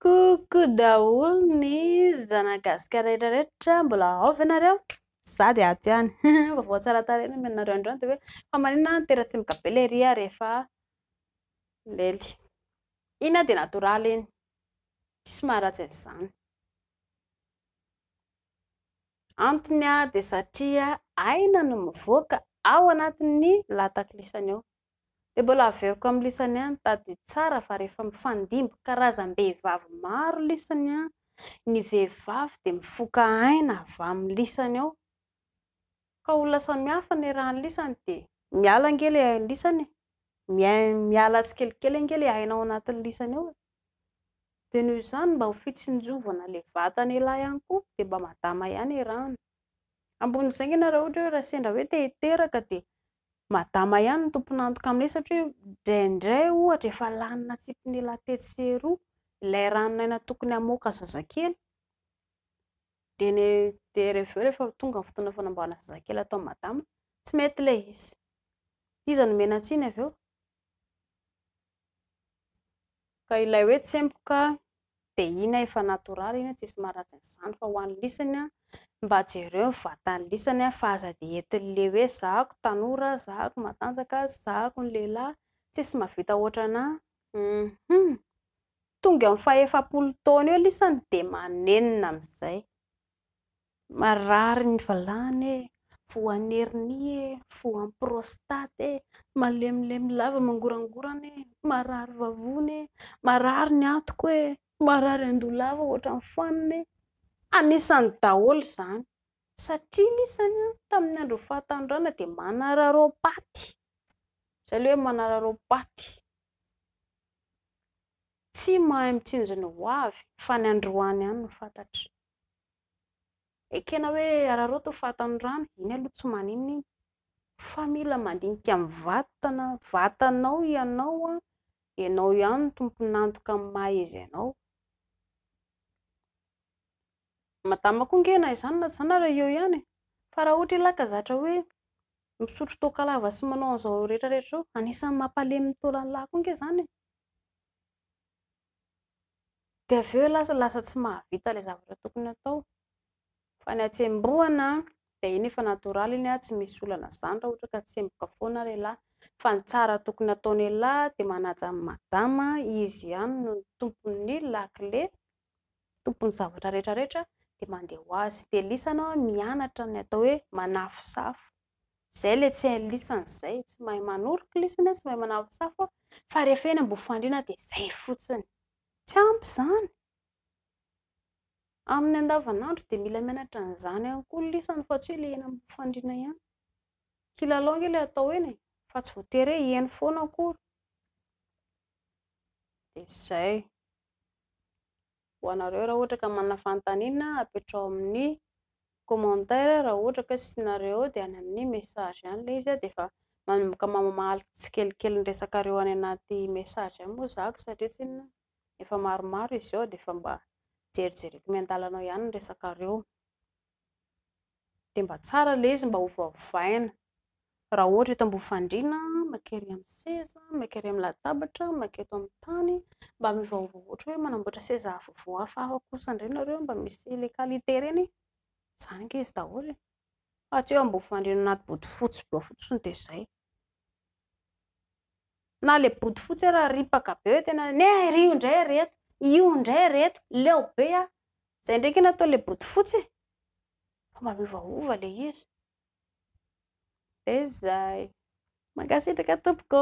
Coucou daholo ny zana gasika rehetra rehetra, mbola ao ve nareo? Za dia ato ihany, vaovao tsara tarehy nomena anareo androany dia hoe fa maninona ny teratsimoka be ilay riha rehefa lely? Iny dia natoraly iny, tsisy maharatsy an'izany. Antony dia satria aina no mivoaka ao anatin'ny lataklisany ao, Dia mbola averiko amin'ny lisany ihany, tadidio tsara fa rehefa mifandimby karazam-behivavy maro lisany, ny vehivavy dia mifoka aina avy amin'ny lisany ao, ka olona samihafa ny iarahan'ny lisany dia miala ange ilay ain'ny lisany e! miala tsikelikely ange ilay aina ao anatin'ny lisany ao e! dia noho izany mba ho fitsinjovana ilay vatana elah ihany koa dia mba madama ihany erahana, ambony izay nge ianareo ohatra hoe raha sendra hoe te hiteraka dia Madama ihany no tompon'antoka amin'ilay satria indraindray ohatra efa lany natsipin'ila tetsy sy eroa ilay ranon'aina tokony hamoaka zazakely dia ny dia avy eo rehefa tonga ny fotoana fanamboarana zazakely atao madama tsy mety ilay izy, iza no omena tsiny avy eo? Ka ilay hoe tsemboka dia iny efa natoraly iny tsisy maharatsy an'izany fa ho an'ny lisany mba jereo ny vatan'ny lisany fa aza dia entin'le hoe zahako tanora, zahako matanjaka, zahako ny lehilahy, tsisy mahavita ohatrana hum! tonga eo amin'ny fahefapolo taona eo lisany dia manenina amin'izay. Marary ny valahana e, voan'ny hernie e, voan'ny prostate e, malemilemy lava mangorangorana e, marary vavony e, marary ny antoko e, marary an-doha lava ohatran'ny fanina e. Anisany daholo izany. Satria ny isany tamin'ny andron'ny fahatanorana dia manararaopaty. Izay ilay hoe manararaopaty. Tsy mahay mitsinjona ho avy fa ny androany ihany no fantatro. Ekena hoe araraoty ny fatan'ny rano, iny aloha tsy maninona iny, fa mila mandinika ny vatana, vatanao ianao, ianao ihany no tompon'antoka amin'ny maha izy anao. Madama koa ange na izany na izany ary eo ihany e, fa raha ohatra ialahy ka zatra hoe misotro toaka lava sy manao an'izao rehetra rehetra izao, anisan'ny mampalemy ny taolan'ilahy koa ange izany e. Dia avy eo lasa lasa tsy mahavita ilay zavatra tokony atao. Fa ny hatsembohana dia iny efa natoraly iny tsy misy olana izany raha ohatra ka tsemboka foana ry lahy. Fa ny tsara tokony ataon'ny lahy dia manaja an'i madama, izy ihany no tompon'ny lakile, tompon'ny zavatra rehetra rehetra dia mandeha ho azy. Dia lisany mianatra ny atao hoe manafosafo. Izay ilay tsy hay lisany izay, tsy mahay manoroka lisany, tsy mahay manampy safo fa rehefa eny Ambohifandriana dia izay fotsiny. Tsy ampy izany. Amin'ny andavanandro dia mila mianatra an'izany ihany koa ny lisany fa tsy hoe ilay eny Ambohifandriana ihany. Kilalao ange ilay atao eny e, fa tsy voatery hoe eny foana akory. Dia izay. ho anareo raha ohatra ka manana fanontaniana apetrao amin'ny commentaire raha ohatra ka tsy nareo dia any amin'ny message any ilay izy dia efa manomboka mamamaly tsikelikely ny resakareo any anaty message any moa zako satria tsinona efa maromaro izy eo dia efa mba jerijereko miandalanao ihany ny resakareo Dia mba tsara ilay izy mba hovaovaina. Raha ohatra eto ambony fandriana, maika ery amin'ny seza, maika ery amin'ny latabatra, maika eto amin'ny tany. Mba miovaova ohatra hoe manamboatra seza vaovao hafahafa kosa indray ianareo mba misy ilay qualité ireny e. Izany ange izy daholo e. Fa tsy hoe ambony fandriana anaty bodofotsy be ao fotsiny dia izay. Na le bodofotsy ary ripaka be hoe tena ne ry io ndray ary eto, io ndray ary eto, leo be a! Zay ndray kena atao le bodofotsy e! Fa mba miovaova le izy. De zay. Mankasitraka tompoko.